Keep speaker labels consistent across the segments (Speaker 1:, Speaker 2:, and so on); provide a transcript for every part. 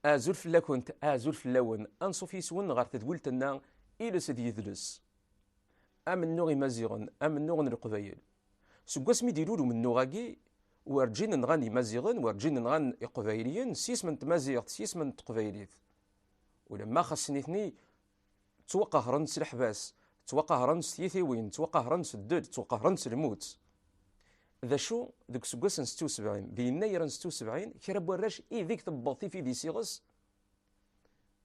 Speaker 1: Azul fell-akent, azul fell-awen, anṣuf yes-wen ɣer tedwilt-nna Iles d Yidles. Amennuɣ Imaziɣen, amennuɣ n Leqbayel. Seg wasmi d-ilul umennuɣ-agi, werǧin nɣan Imaziɣen, werǧin nɣan Iqbayliyen s yisem n tmaziɣt, s yisem n teqbaylit. Ulamma xas nitni Ttwaqahren s leḥbas, ttwaqahren s tyitiwin, ttwaqahren s ddel, ttwaqahren s lmut. D acu, deg useggas n setti usebɛin, d yennayer n setti usebɛin, kra n warrac ideg tewweḍ tifidi s iɣes,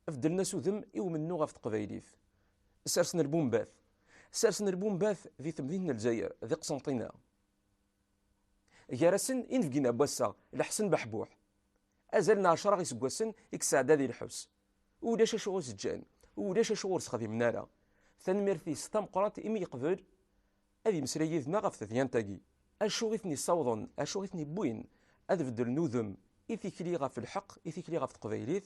Speaker 1: beddlen-as udem i umennuɣ ɣef teqbaylit. Sersen lbumbat. Sersen lbumbat di temdint n Lezzayer, di Qsenṭina. Gar-asen, inebgiyen n wass-a, Leḥsen Beḥbuḥ, Azal n ɛecra iseggasen i yesɛedda di lḥebs. Ulac acu ur s-ǧǧan, ulac acu ur sexdimen ara. Tanemmirt-is tameqqrant imi yeqbel ad yemmeslay yid-neɣ ɣef tedyant-agi. Acu i ten-yessawḍen, acu i ten-yewwin ad beddlen udem i tikli ɣef lḥeqq, i tikli ɣef teqbaylit?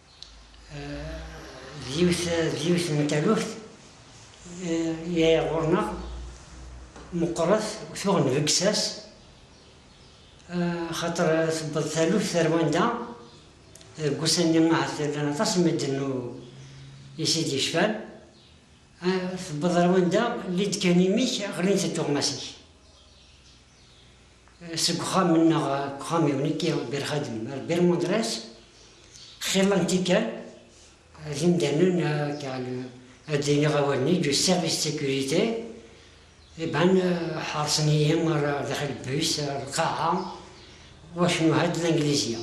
Speaker 2: d yiwet d yiwet n taluft yay ɣur-neɣ meqqret tuɣ nbeggess-as xaṭer tewweḍ taluft ar wanda deg ussan-nni ahat llan aṭas n medden ur is i d-yecfan tewweḍ ar wanda lli-d kan imi-k ɣlint-d tuɣmas-ik. Seg uxxam-nneɣ deg uxxam-iw nekki d Birxadem ar Birmundres, xilla n tikkal d imdanen car ad d-iniɣ awal-nni du service de sécurité eh ben ḥeṛsen-iyi ar daxil bus, ar lqaɛa, wacnu ha-d Langlizya.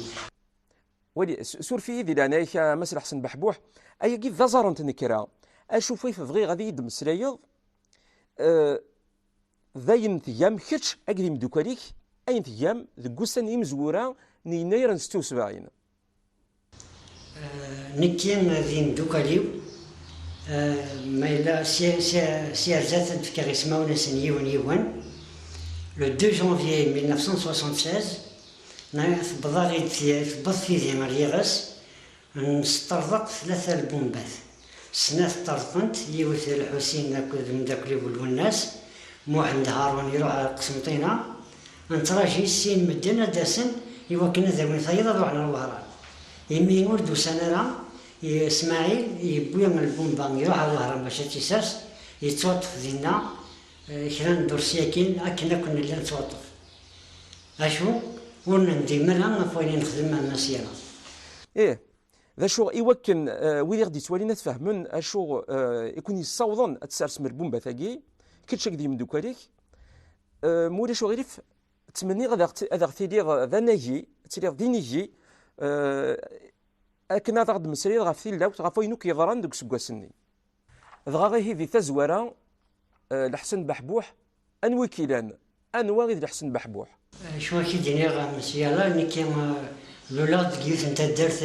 Speaker 1: Wali, suref-iyi di leɛnaya-k a Mass Lḥsen Beḥbuḥ, ayagi d aẓar n tnekra, acu fayt bɣiɣ ad iyi-d-temmeslayeḍ, eh, D ayen tgam kečč akked imeddukal-ik, ayen tgam deg wussan n yimezwura n yennayer n settin u sebɛin.
Speaker 2: Nekki d yimeddukal-iw, ma yella s yirza ad d-fkeɣ ismawen-nsen yiwen yiwen, le deux janvier mille neuf cent soixante-seize, tewweḍ-aɣ-id tewweḍ tidi ɣer yiɣes, N sṭerḍeq tlata lbumbat, snat ṭṭerḍqent, yiwet i Lḥusin akked mdakkel-iw Lwennas, Muḥend Haṛun iṛuḥ ar Qesmṭina, neţṛaji sin medden ad d-asen i wakken ad awin tayeḍ ad ruḥen ar Wehṛan. Imi ur d-usan ara, i Smaɛil yewwi lbumba iṛuḥ ar Wehṛan bac a ţ-isers, yeţwaṭṭef dinna kra n ddurṣ yakin akken akk nella neţwaṭṭef. Acu? Ur nendim ara ɣef wayen i nexdem a Mass
Speaker 1: Yaraḍ? Ih. D acu i wakken wid i ɣ-d-yettwalin ad fehmen acu i ken-yessawḍen ad tessarsem lbumbat-agi, kečč akked yimeddukkal-ik, ma ulac uɣilif ttmenniɣ ad aɣ-tiliḍ d anagi, ad tiliḍ d inigi akken ad aɣ-d-tmeslayeḍ ɣef tilawt, ɣef wayen akk yeḍran deg useggas-nni. Dɣa ihi di tazwara, Lḥsen Beḥbuḥ Anwa i k-ilan?
Speaker 2: Anwa i d
Speaker 1: Lḥsen
Speaker 2: Beḥbuḥ? Acu ara
Speaker 1: k-id-iniɣ
Speaker 2: a Mesiala, nekki luleɣ-d deg yiwet n taddart,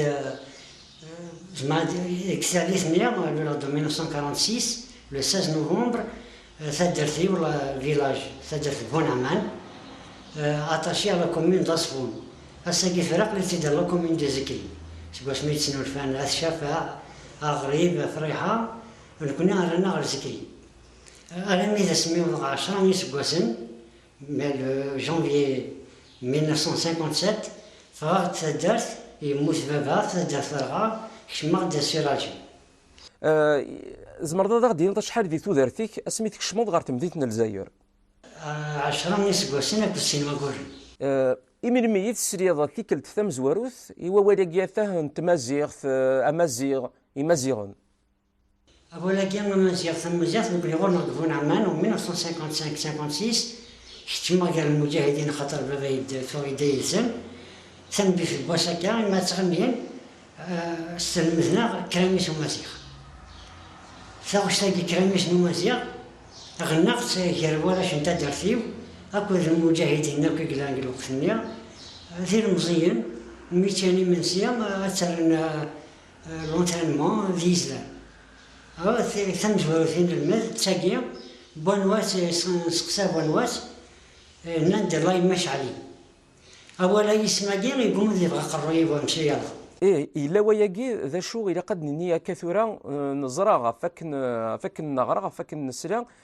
Speaker 2: zemreɣ deg tallit-nni, luleɣ-d en 1946, le 16 novembre, taddart-iw, le village, taddart n Bunaman, attaché à la commune d'Asbun. Ass-agi tura aql-itt-id dans la commune de Zekri. Seg wasmi i d-snulfan At Cafaɛ, Aɣrib, Friḥa, nekkni rran-aɣ ɣer Zekri. Alami d asmi wwḍeɣ ɛecra n yiseggasen, vers le janvier 1957, ffɣeɣ-d taddart, yemmut baba, taddart terɣa, kecmeɣ-d sur Alger. Tzemreḍ
Speaker 1: ad aɣ-d-tiniḍ acḥal di tudert-ik asmi tkecmeḍ ɣer temdint n Lezzayer? Ɛecra
Speaker 2: n yiseggasen akked sin wagguren. I melmi i
Speaker 1: tesliḍ tikkelt tamezwarut i wawal-agi atah n tmaziɣt, amaziɣ, imaziɣen?
Speaker 2: Awal-agi amaziɣ tamaziɣt nekkni ɣur-neɣ deg Bu Nɛman, 1955-56, keččmeɣ gar lmuǧahidin axaṭer baba yeffeɣ yedda yid-sen. Tanbilt n wass akka imi ad tɣennin sselmed-neɣ kramis umaziɣ. Taɣect-agi kramis n umaziɣ ɣennaɣ-tt gar warrac n taddart-iw akked lmuǧahidin akk i yellan deg lweqt-nni d ilemẓiyen mi ččan imensi ad terren L'entraînement d yizlan. Tamezwarut i nelmed d tagi, Buanwas, nesseqsa Buanwas, nnan-d Lay Mac Ali. Awal-a yisem-agi yegguma ad yebɣu aqerruy-iw ur nesɛi ara. Ih, yella wayagi,
Speaker 1: d acu ilaq ad d-nini akka tura, neẓra ɣef wakken neɣra, ɣef wakken nesla,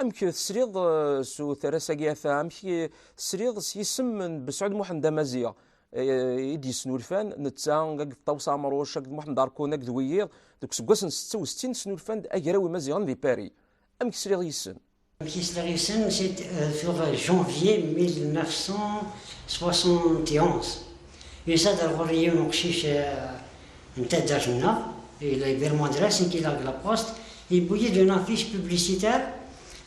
Speaker 1: Amek tesliḍ s uterras-agi ata? Amek tesliḍ s yisem n Besɛud Muḥend Amaziɣ? i d-yesnulfan netta akked Ṭawes Ɛemruc akked Muḥend Arkun akked wiyiḍ deg useggas n setta u settin snulfan-d agraw imaziɣen di Paris. Amek sliɣ yis-sen? Amek i sliɣ
Speaker 2: yis-sen, c'est sur janvier 1971. Yusa-d ar ɣur-i yiwen uqcic, n taddart-nneɣ, et la Ibero Andrés en qui largue la poste, yewwi-yi-d une affiche publicitaire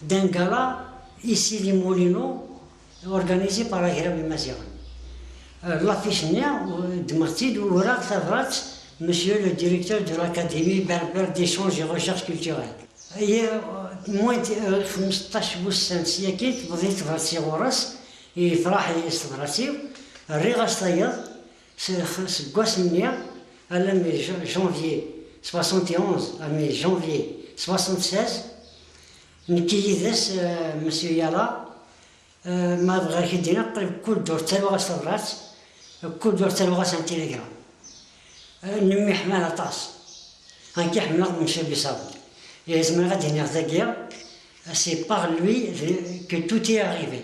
Speaker 2: d'un gala ici les Moulineaux organisé par Agraw Imaziɣen. L'affiche-nni ddmeɣ-tt-id uraɣ tabrat Monsieur le Directeur de l'Académie Berbère d'Echange et Recherche Culturelle. Aya moins de xmesṭac wussan s yakin tewweḍ-iyi tebrat-is ɣur-s, yefraḥ-iyi s tebrat-iw, rriɣ-as tayeḍ, Seg wass-nni alammi d janvier soixante et onze armi janvier soixante seize, nekk yid-s Monsieur Yala, ma bɣiɣ ad k-id-iniɣ qrib kul ddurt ttaruɣ-as tabrat, kul ddurt ttaruɣ-as un télégramme. Nemmiḥmal aṭas. Nekk i ḥemmleɣ Monsieur Buissaoud. Zemreɣ ad d-iniɣ dagi, c'est par lui que tout est arrivé.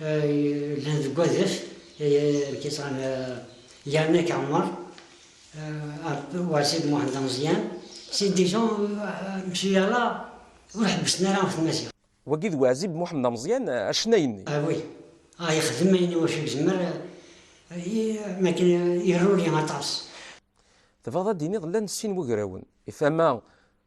Speaker 2: Llan deg wadef, lkiṭran yerna Kɛumar, Wasid Muḥend Ameẓyan, si Dijon, msuyala ur ḥebbsen ara ɣef Tmaziɣt. Wagi d Wasid
Speaker 1: Muḥend Ameẓyan, acennay-nni. Ah oui,
Speaker 2: ah yexdem ayen iwacu yezmer, m akken iruli aṭas. Tebɣiḍ
Speaker 1: ad d-tiniḍ llan sin wagrawen, i tama.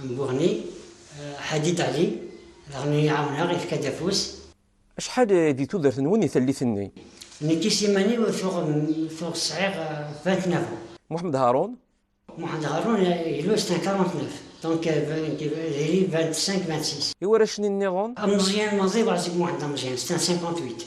Speaker 2: Amguhni, Hadid Ali, daɣen iyi-ɛawneɣ, yefka-d afus. Acḥal
Speaker 1: di tudert-nwen i tallit-nni? Nekk s
Speaker 2: iman-iw tuɣ sɛiɣ vingt-neuf ans. Mohamed Haroun.
Speaker 1: Mohamed Haroun,
Speaker 2: il est un quarante-neuf, donc diri vingt-cinq, vingt-six. Iwarrac-nni nniḍen?
Speaker 1: Ameẓyan Maziɣ Ɛziz
Speaker 2: Mohamed Ameẓyan, c'est un cinquante-huit.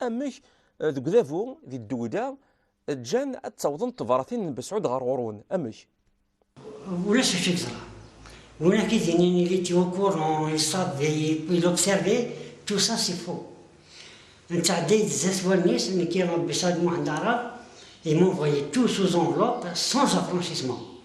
Speaker 1: Amek eh, deg udabu, di ddewda, eh, ǧǧan ad ttawḍent tebratin n Besɛud ɣer ɣur-wen? Amek?
Speaker 2: Ulac acu yeẓra. Win ak id-yinin il était au courant, il savait, il observait, tout ça c'est faux. Nettɛedday-d zdat wallen-is, nekki Besɛud Muḥend Aɛrab, il m'envoyait tout sous enveloppe, sans affranchissement.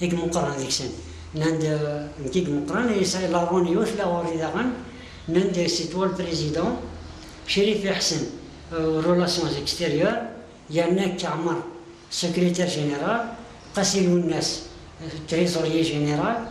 Speaker 2: I imeqqran deg-sen nnan-d, Nekk i imeqqran i yesɛi laṛun yiwet la ɣur-i daɣen, nnan-d, Si toi le président, Chérif Iḥsen aux relations extérieures, Yannek Amar, secrétaire général, Qasi Lounas, trésorier général,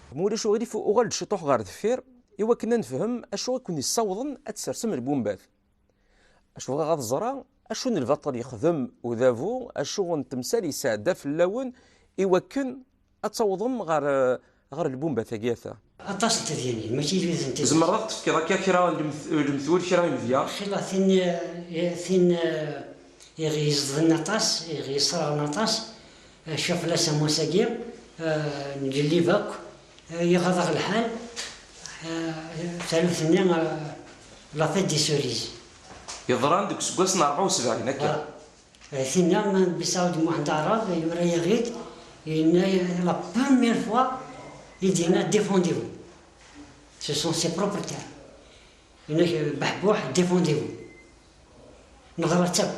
Speaker 2: Ma ulac
Speaker 1: uɣilif uɣal-d ciṭuḥ ɣer deffir i wakken ad nefhem acu i ken-yessawḍen ad tsersem lbumbat. Acu bɣiɣ ad ẓreɣ, acu n lbaṭel yexdem udabu, acu n temsal yesɛedda fell-awen i wakken ad tawḍem ɣer ɣer lbumbat-agi ata. Aṭas n tedyanin,
Speaker 2: mačči d wid n tidet. Tzemreḍ ad ɣ-d-tefkeḍ akka kra
Speaker 1: n lemtul, kra n yimedya? Xilla tin
Speaker 2: tin i ɣ-yezedɣen aṭas, i ɣ-yesserɣen aṭas, Cfiɣ fell-as am wass-agi, ngellib akk, iɣaḍ-aɣ lḥal, taluft-nni la t-id-yessuriz. Yeḍran
Speaker 1: deg useggas n rebɛa u sebɛin akka. D tinna
Speaker 2: Bisaud Muḥend Aɛrab yura-yaɣ-id, yenna la première fois i d-yenna Défendez-vous. Ce sont ses propres termes. Yenna-ak Beḥbuḥ Défendez-vous. Neḍra-tt akk.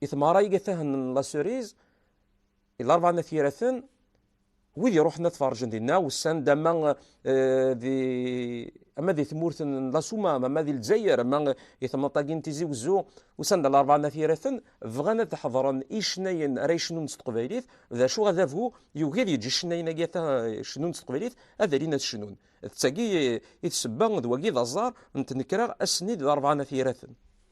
Speaker 1: i tmara iga tahen n la cerise i larba na tiraten wid iruḥen ad tferǧen dinna wessan d ama eh, di ama di tmurt n la suma ama di lezzayer ama i temnaṭ-agi n tizi wezzu wessan d larba na tiraten bɣan ad ḥeḍren icnayen ara yecnun s teqbaylit d acu adabu yugi ad yeǧǧ icnayen agi ata cnun s teqbaylit ad alin ad cnun d tagi i tsebba d wagi d aẓar n tnekra ass-nni d larba na tiraten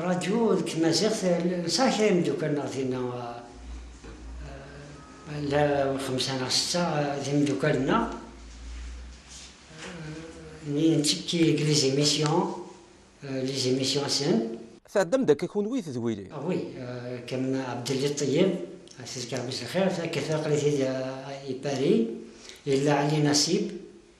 Speaker 2: Rradyu deg tmaziɣt nesɛa kra imeddukal neɣ dinna la xemsa neɣ setta d imeddukal-nneɣ nni nettekki deg les émissions les émissions sen. Tɛeddam-d akka kunwi
Speaker 1: d wili? Ah oui,
Speaker 2: comme Abdelli Tayeb, tezkar mmi-s lxir, takkelt-a aql-it-id i Paris, yella Ɛli Nasib,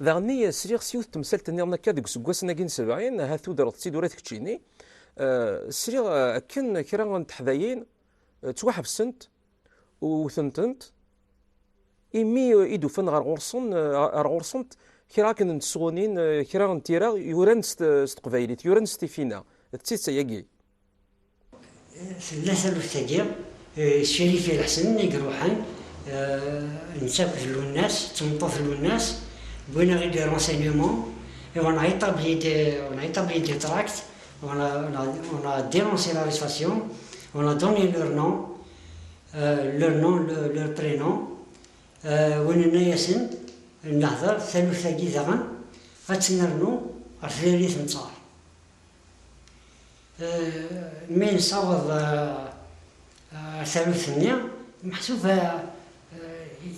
Speaker 2: Daɣenni sliɣ s
Speaker 1: yiwet n temsalt nniḍen akka deg useggasen-agi n sebɛin, ahat tudreḍ-tt-id ula d keččini, sliɣ akken kra n teḥdayin ttwaḥebsent u wtent-ent imi i d-ufan ɣer ɣur-sen, ɣer ɣur-sent kra akken n tesɣunin, kra n tira yuran s teqbaylit, yuran s tifina. D tidet ayagi? Tella
Speaker 2: taluft-agi, Ccrif i Lḥsen i iruḥen, netta akked Lwennas, d tmeṭṭut n Lwennas, wwin-aɣ-id des renseignements et on a établi des tracts, on a dénoncé l'arrestation, on a donné leur nom, leur nom, leur prénom, win nenna-yasen, nehder, taluft-agi daɣen ad tt-nernu ɣer tnarit n tẓar. Mi nessaweḍ ar taluft-nni, meḥsub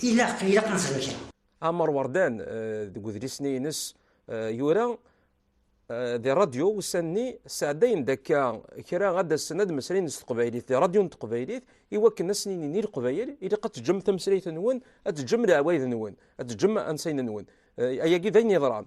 Speaker 2: ilaq ad nexdem kra. Ɛmer Werdan,
Speaker 1: deg udlis-nni-ines yura di radyu ussan-nni, sɛeddayen-d akka kra ad d-asen ad d-mmeslayen s teqbaylit di radyu n teqbaylit i wakken ad sen-inin i Leqbayel ilaq ad teǧǧem tameslayt-nwen, ad teǧǧem leɛwayed-nwen, ad teǧǧem ansayen-nwen. Ayagi d ayen yeḍran.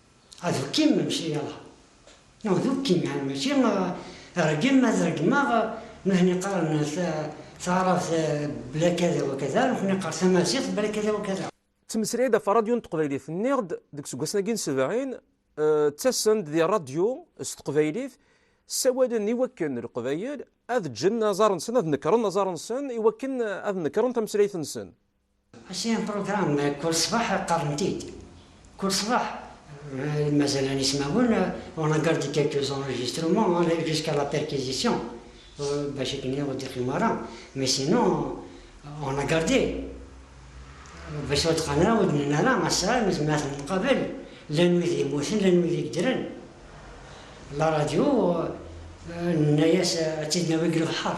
Speaker 2: Ttmeslayeɣ-d ɣef rradyu
Speaker 1: n teqbaylit. Nniɣ-d deg useggas-agi n sebɛin, ttasen-d di rradyu s teqbaylit, ssawalen i wakken Leqbayel ad ǧǧen aẓar-nsen, ad nekren aẓar-nsen i wakken ad nekren tameslayt-nsen. Asian
Speaker 2: program kul ṣṣbeḥ qqaren-t-id. Kul ṣṣbeḥ mazal n ismawen on a gardé quelques enregistrements aller jusqu'à la perquisition bac akken ur d-iqqim ara mais sinon on a gardé bac ur d-qqaren ara ur d-nnin ara ass-a nezmer ad ten-nqabel llan wid yemmuten llan wid yeddren la radio nenna-as ad tt-id-nawi deg lebḥer.